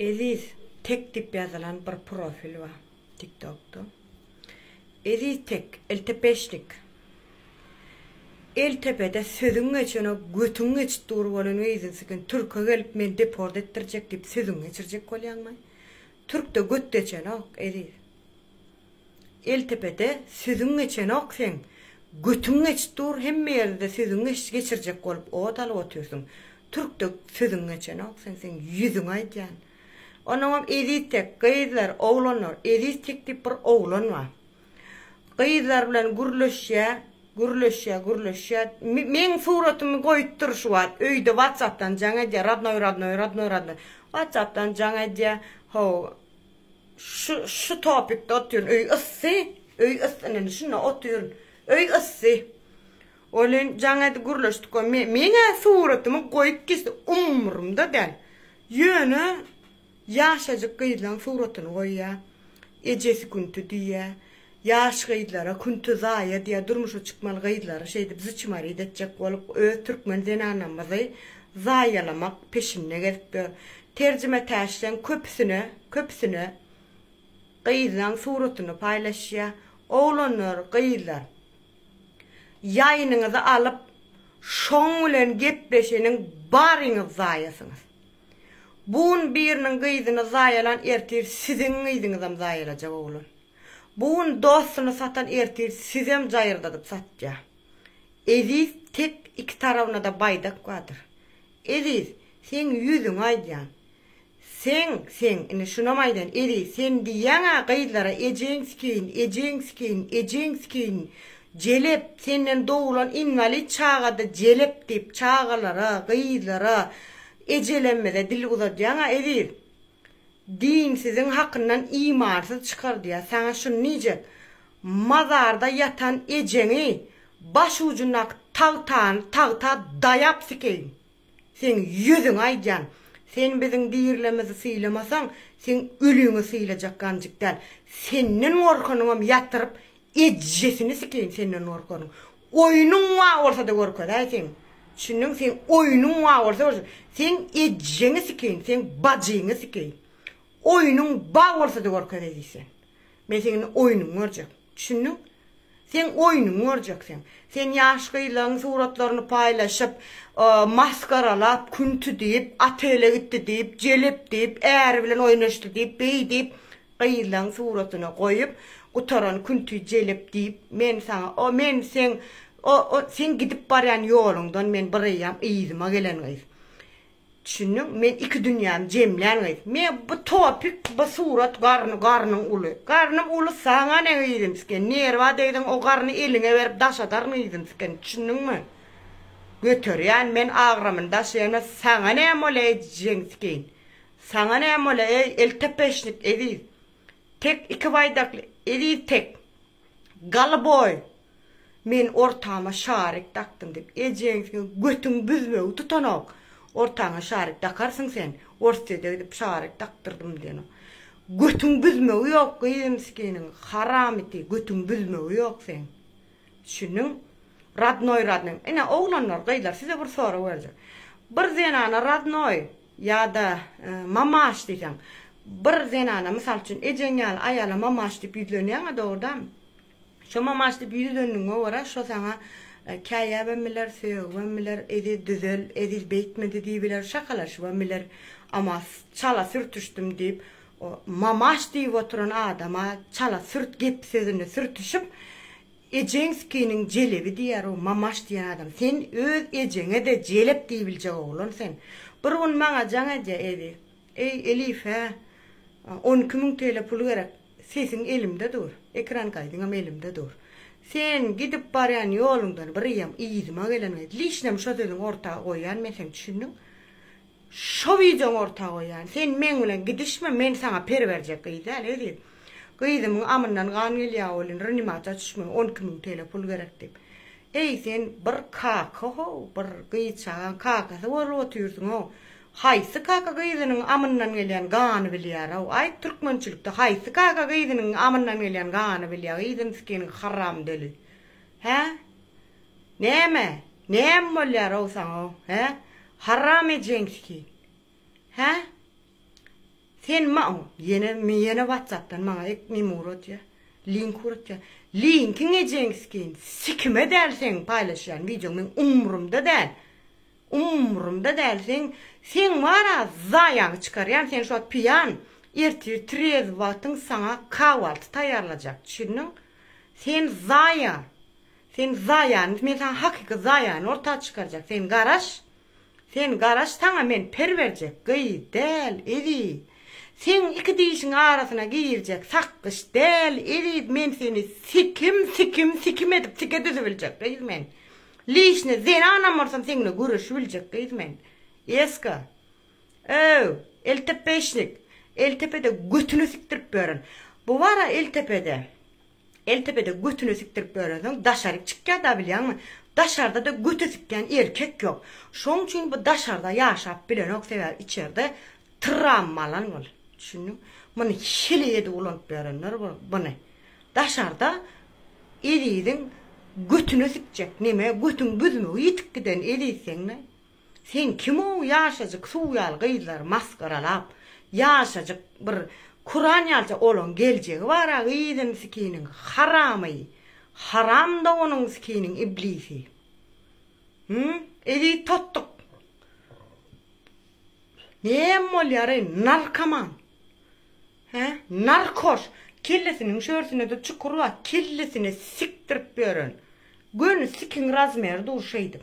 Eziz tek diýip ýazylan bir profil bar tiktokda. Eziz tek, eltepeşnik. El tepede sözüň geçene götüň geçip dur bolan weýzinsi gün türke gelip meni deport etdirjek diýip sözüňi geçirjek bolýaňmy? Türkde göt geçenok Eziz. Eltepede sözüň geçenok seň götüň geçip dur hemme ýerde sözüň geç geçirjek bolup ot alyp otyrsyň türkde sözüň geçenok seň seň ýüzüňe aýdýan onuňam eziz tek gyzlar oglanlar eziz tek diýip bir oglan bar gyzlar bilen gürleşýä gürleşýä gürleşýä meň suratymy goýup dur şu wagt öýde watsapdan jaň edýä radnoý radnoý radnoý radnoý watsapdan jaň edýä how Şu şu topikde otyryn öý yssy öý yssy ine indi şunda otyryn öý yssy welin jaň edip gürleşdik we meň-ä suratymy goýup geçdi umrumda däl ýöne ýaşajyk gyzlaň suratyny goýýa ejesi künti diýýä Ýaş gyzlara künti zaýa diýýär, durmuşa çykmaly gyzlary şeýdip zçmaryt etjek bolup öz türkmen zenanamyzy zaýalamak peşinde gezip ýör. Terjime täşleň köpüsine, köpüsine gyzlaň suratyny paýlaşýa. Oglanlar, gyzlar ýaýynyňyzy alyp şoň bilen gepleşeniň baryňyz zaýasyňyz. Bu gün biriniň gyzyny zaýalan ertir siziň gyzyňyzam zaýalajak oglan. Bu gün dostuny satan ertir sizem jaýyrdadyp satýa. Eziz tek iki tarabynada baýdak bardyr. Eziz seň ýüzüňi aýdýan. Seň seň indi şunam aýdan Eziz sen diýýäňä gyzlara ejeň skin ejeň skin ejeň skin jelep senden doglan inwalid çagada jelep diýip çagalara gyzlara ejelemmize dil uzadýaňa Eziz. Din siziň hakyndan imansyz çykardýar. Saňa şuny diýjek, mazarda ýatan ejeňi baş ujundaky tagtany tagta daýap sikeýin. Seň ýüzüňe aýdýan. Sen biziň dirilimizi sylamasaň, seň öliňi sylajak ganjyk däl. Senden gorkanyňam ýatyryp Ejesini sikeýin senden gorkanyň oýnuň wa bolsada görkezäý seň düşündiňmi seň oýnuň wa bolsa seň ejeňi sikeýin seň bajyňy sikeýin oýnuň ba bolsada görkezeý diýsen men seň indi oýnuňy görjek düşündiň seň oýnuňy görjek seň sen ýaş gyzlaň suratlaryny paýlaşyp masgaralap künti diýip otele gitdi diýip jelep diýip äri bilen oýnaşdy diýip beý diýip Gyzlaň suratyny goýup gutaran künti jelep diýip men saňa o men seň o o seň gidip barýan ýoluňdan men bireýýäm yzyma gelen gyz. Düşündiň men iki dünýämi jemlän gyz. Me bu topik bu surat garny garnyň uly. Garnym uly saňa ne gyzym siken nerwa degdiň o garny eliňe berip daşadaryn gyzym siken düşündiňmi. Göterýän men agramyny daşaýan saňa näme ol eý jeň sikeýin. Saňa näme bolýa eý eltepeşnik eziz tek iki baýdakly eziz tek galiboý men ortama şarik dakdym diýip ejeň seň götüň büzmegi tutanok ortaňa şarik dakarsyň sen orsýede gidip şarik dakdyrdym diýenok götüň büzmegi ýok gyýym skiniň haramiti götüň büzmegi ýok seň düşündiň radnoý radnoý ine oglanlar gyzlar size bir sorag berjek bir zenana radnoý Ýa-da Mamaş diýseň. Bir zenana, mysal üçin, ejeň ýaly aýala Mamaş diýip ýüzlenýäň-ä, dogrudanam. Şo Mamaş diýip ýüzlendigiňe görä, şo saňa käýäbem biler, sögübem biler, Eziz, düzel, Eziz beýtmedi diýip biler, şakalaşybam biler. Amma Çala sürtüşdim diýip, o Mamaş diýip oturan adama çala-sürt gep-sözüni sürtüşip, Ejeňskiniň jelebi diýer o Mamaş diýen adam. Sen öz ejeňe-de jelep diýibiljek oglan sen. Bir gün maňa Jaň eje edi. Eý, Elif-ä, on iki müň TL pul gerek. Sesiň elimde dur. Ekran gaýdyňam elimde dur. Sen gidip barýan ýoluňdan bir ýam yzyma gelen we lişnam şo sözüňi orta goýýan men seň, düşündiň? Şo wideoňy orta goýýan. Sen meň bilen gidişme, men saňa per berjek gyz däl eziz. Gyzymyň amyndan gan gelýä welin rnimasiýa düşmeli on iki müň TL pul gerek diýip. Eý sen bir kaka how, bir gyz çagaň kakasy bolup otyrsyň how. Haýsy kaka gyzynyň amyndan gelýän gany bilýär how. Aýt türkmençilikde haýsy kaka gyzynyň amyndan gelýän gany bilýär gyzyn skiniň haram döli. Hä? Näme, näme bolýar-ow saňa, hä, haram ejenski, hä? Sen maň, ýene, men ýene watsapdan maňa ek neme uradýa, link uradýa. Linkiň ejeňskin, sikime däl seň paýlaşýan wideoň, meň umrumda däl, umrumda däl, seň, seň bar-a zaýaňy çykarýan, sen şo piýan, ertir trezw wagtyň saňa kahwalty taýýarlajak, düşündiň? Sen zaýa, Sen zaýany men saňa hakyky zaýany orta çykarjak sen garaş sen garaş saňa men per berjek gyz däl eziz seň iki dişiň arasyna girjek sakgyç däl eziz men seni sikim sikim sikim edip sike düzübiljek gyz men lişne zenanam bolsam seňle göreşibiljek gyz men eska öw eltepeşnik eltepede götüne sikdirip ýören bu bar a eltepede. Eltepede götüne sikdirip ýörensoň daşaryk çykýar da bilýäňmi? Daşarda-da göte sikýän erkek ýok. Şoň üçin bu daşarda ýaşap bilenok sebäbi içerde trammalan bol. Düşündiň? Muny hili edip ulanyp ýörenler bul buny. Daşarda Eziziň götüne sikjek neme götüň büzmegi ýitip giden Eziz seňle Sen kimow ýaşajyk suw ýaly gyzlary masgaralap ýaşajyk bir kuran ýalça olaň geljegi bara gyzyn sikiniň haramy haram dogunyň sikiniň iblisi hum eziz totduk nem bolýary narkoman he narkoş kellesiniň şörsinede çukur bar kellesine sikdirip ýören göni sikiň razmeri dur şeýdip.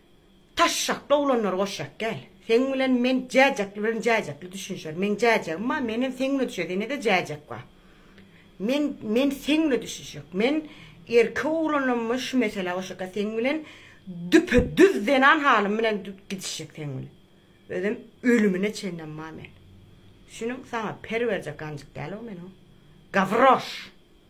Taşşakly oglanlary goşýak gel. Seň bilen men jäjekli bilen jäjekli düşünişeris. Meň jäjegim bar, menem seň bilen düşünişeris. Enede jäjek bar. Men men seň bilen düşünişjek. Men erkek oglanam men şu meselä goşýaka seň bilen düpe düz zenan halym bilen gidişjek seň bilen. Özem ölümine çenlem bar men. Düşüniň saňa per berjek ganjyk däl o men o. Gawroş.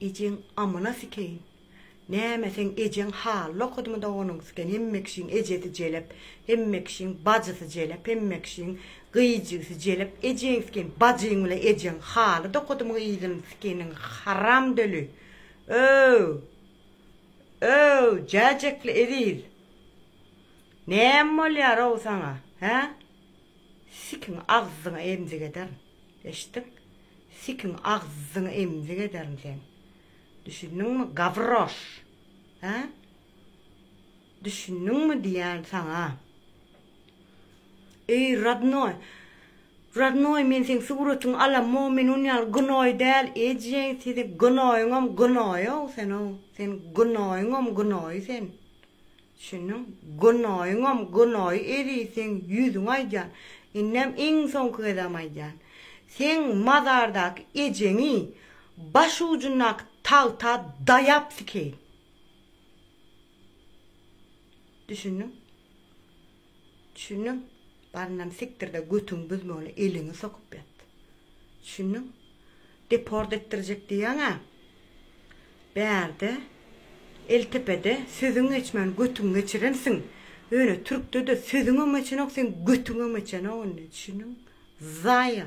Ejeň amyna sikeýin. Näme seň ejeň hally okadymy-da onuň siken hemme kişiň ejesi jelep hemme kişiň bajysy jelep hemme kişiň gyz jigisi jelep ejeň siken bajyň bile ejeň halyda okadymy gyzyny sikeniň haram döli ööw ööw jäjekli eziz näme bolýarow saňa hä. Sikiň agzyňa emzik ederin. Eşitdiň? Sikiň agzyňa emzik ederin seň. Düşündiňmi, gawroş? Hä? Düşündiňmi diýýän saňa? Eý, rodnoý! Rodnoý, men seň suratyňy alamok, men ony ýaly gnoý däl, ejeň, seniň gnoýyňam gnoý-ow sen-ow, seniň gnoýyňam gnoý sen. Şunuň günoýuňam günoýy eri seň ýüzüňe aýdýan. Indem iň soňky gezegem aýdýan. Seň mazardaky ejeňi baş ujundaky tagta daýap sikeýin. Düşündiň? Düşündiň? Baryndan sikdirde götüňi büzmegini eliňi sokup ýat. Düşündiň? Deport etdirjek diýýäň-ä. Bärde, Eltepede sözüň geçmän götüňi geçirensiň. Ýöne türkde-de sözüňem geçenok seň götüňem geçenok indi. Düşündiň? Zaýa.